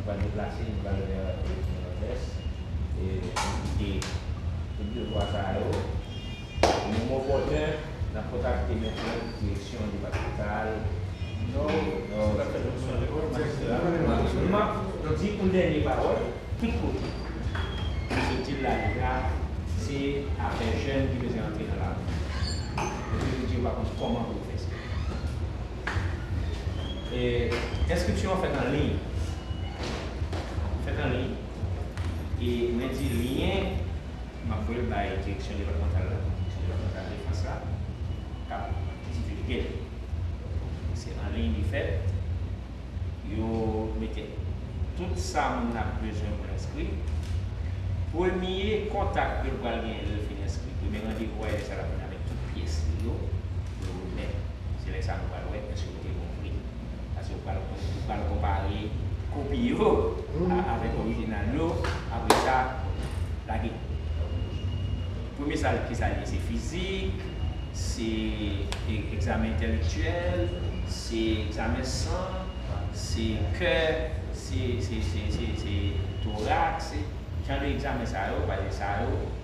Nou pral deplase, nou pral leve avèk Rejim Nòdès e nou kite tout devwa sa a yo. Moman opòtèn, n ap kontakte mètèt direksyon depatmantal Nò, sou la pèmèsyon de lòd majistra Maurice Numa. M ap di yon dènye pawòl, tout kote nou soti l la rive a, se afè jèn ki bezwen antre nan lari. Epi yo di yo pa konn kòman pou yo fè sa. Enskripsyon an fèt anliy. Fèt anliy. E mwen di lyen, m ap voye l bay Direksyon depatmantal la. Direksyon depatmantal defans la k ap divilge l. Se anliy li fèt. Yo mete tout sa moun nan ap bezwen pou l enskri. Premye kontak ke l pral genyen lè l fin enskri, premye randevou a, e lè sa l ap vin. Men tout pyès li yo, yo remèt. Se lè sa nou pral wè èske yo te bon vre. Pase ou pral ou pral konpare kopi yo avèk orijinal yo, apre sa lage premye sa ki sa l ye? Se fizik, se egzamen entèlektyèl, se egzamen san, se kè, se se se se se torax, se jan de egzamen sa yo, pase sa yo.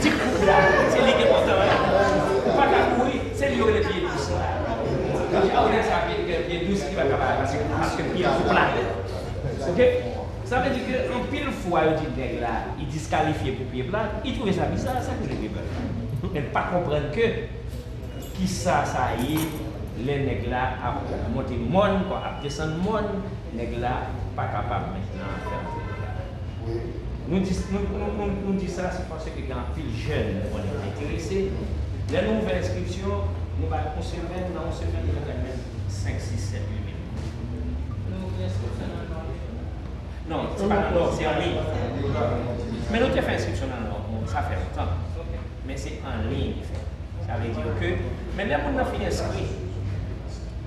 Ti kout la se li ki enpòtan wi. Ou pa ka kouri, se li yo rele pye dous la. Ou ka wè sa pye gen pye dous ki pa ka bay pase kout paske pye a twò plat. Ok. Sa vle di ke anpil fwa yo di nèg la li diskalifye pou pye plat, li twouve sa biza, sa ki rele pye plat la. Men l pa konprann ke kisa sa ye lè nèg la ap monte mòn kon ap desann mòn, nèg la pa kapab mentnan fè anpil bagay. Nou di nou di sa se paske gen anpil jèn nou konnen ki enterese, lè nou ouvè enskripsyon nou bay yon semèn nan yon semèn nou gentan jwenn 5 6 7 8 mil moun. Nou ouvri enskripsyon nan nò tou? Non se pa nan nò se an liy. Men nou te fè enskripsyon nan nò bon sa fè lontan men se an liy li fèt sa vle di ke men lè moun nan fin enskri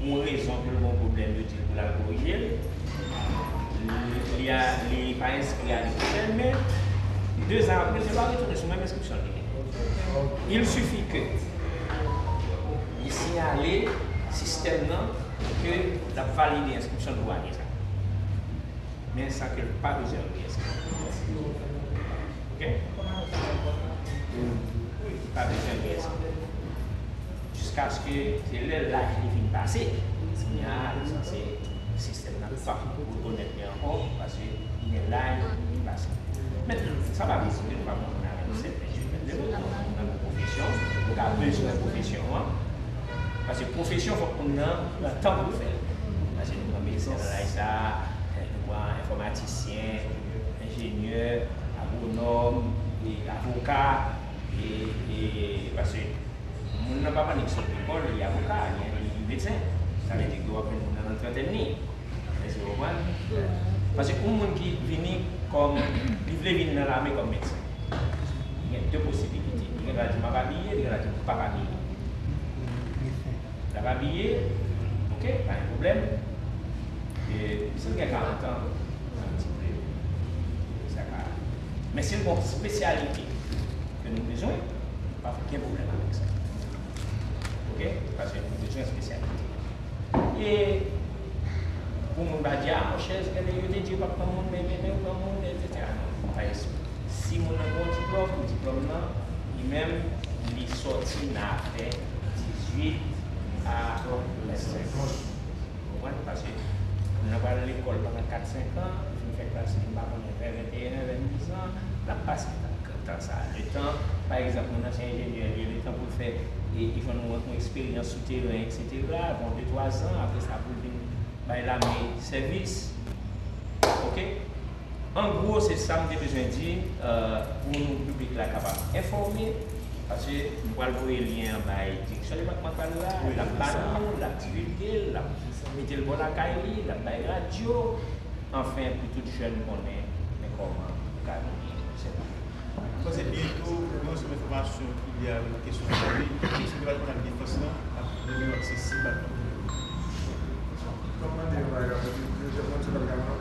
Yon rezon pou l gon pwoblèm yo di l pou l al korije l, li pa enskri ane pwochèn men dezan apre se pa retounen sou menm enskripsyon l te gen. Il sifi ke li siyale sistèm nan ke l ap valide enskripsyon l pou ane sa men san ke l pa bezwen re-enskri. Ok? Li pa bezwen re-enskri. Jiskaske se lè laj li fin pase, kounya li sanse sistèm nan pa rekonèt li ankò paske li gen laj li fin pase. Men, sa pa vle di ke nou pa kontinye avè 27, 28, 29 lane nan yon pwofesyon, nou ka bezwen pwofesyon an, paske pwofesyon fòk moun nan pran tan pou l fè l. Paske nou pran medsen nan laj sa, nou pran enfòmatisyen, enjenyè, agwonòm, avoka. Paske moun nan pa manik sot lekòl, li avoka, li medsen. Sa vle di ke w ap jwenn nan trantèn li. Èske w konprann? Paske yon moun ki vini kòm, li vle vini nan lame kòm medsen. Li gen de posibilite. Li gen dwa di m ap abiye, li gen dwa di m pa p abiye. L ap abiye, ok, pa gen pwoblèm. Misye gen karantan, sa vle di ke sa ka. Men se bon spesyalite ke nou bezwen, nou pa gen pwoblèm avèk sa. Ok, paske nou bezwen spesyalite. E pou moun ba di, a mon chè, se genlè yo te di yo pap pran moun, men yo genlè yo pran moun, et cetera. Non, nou pa ekskli. Si moun nan gen yon diplòm, diplòm nan, li menm, li sòti nan apre 18 a 25. Ou konprann? Paske moun nan pral lekòl pandan 4, 5 an, li fin fè klas li m pa konnen vè 21 an, 22 zan, l ap pase nan kan tan sa a. Letan, pa egzanp, moun nan se enjenyè li, letan pou l fè e li jwenn yon eksperyans sou teren eksetera, ap pran 2, 3 zan, apre sa pou l vin bay lame sèvis. Ok? An gwo se sa m te bezwen di pou nou piblik la kapab enfòme paske m pral voye lyen an bay Direksyon Depatmantal la, l ap ba nou, l ap divilge l, l ap mete l bò lakay li, l ap bay radyo anfen pou tout jèn konnen men kòman ou ka vini sèvi. M panse byen tou gen yon ansanm enfòmasyon ki lye a yon kesyon sa wi, Direksyon Depatmantal Defans lan ap rann yo aksesib ak tout moun.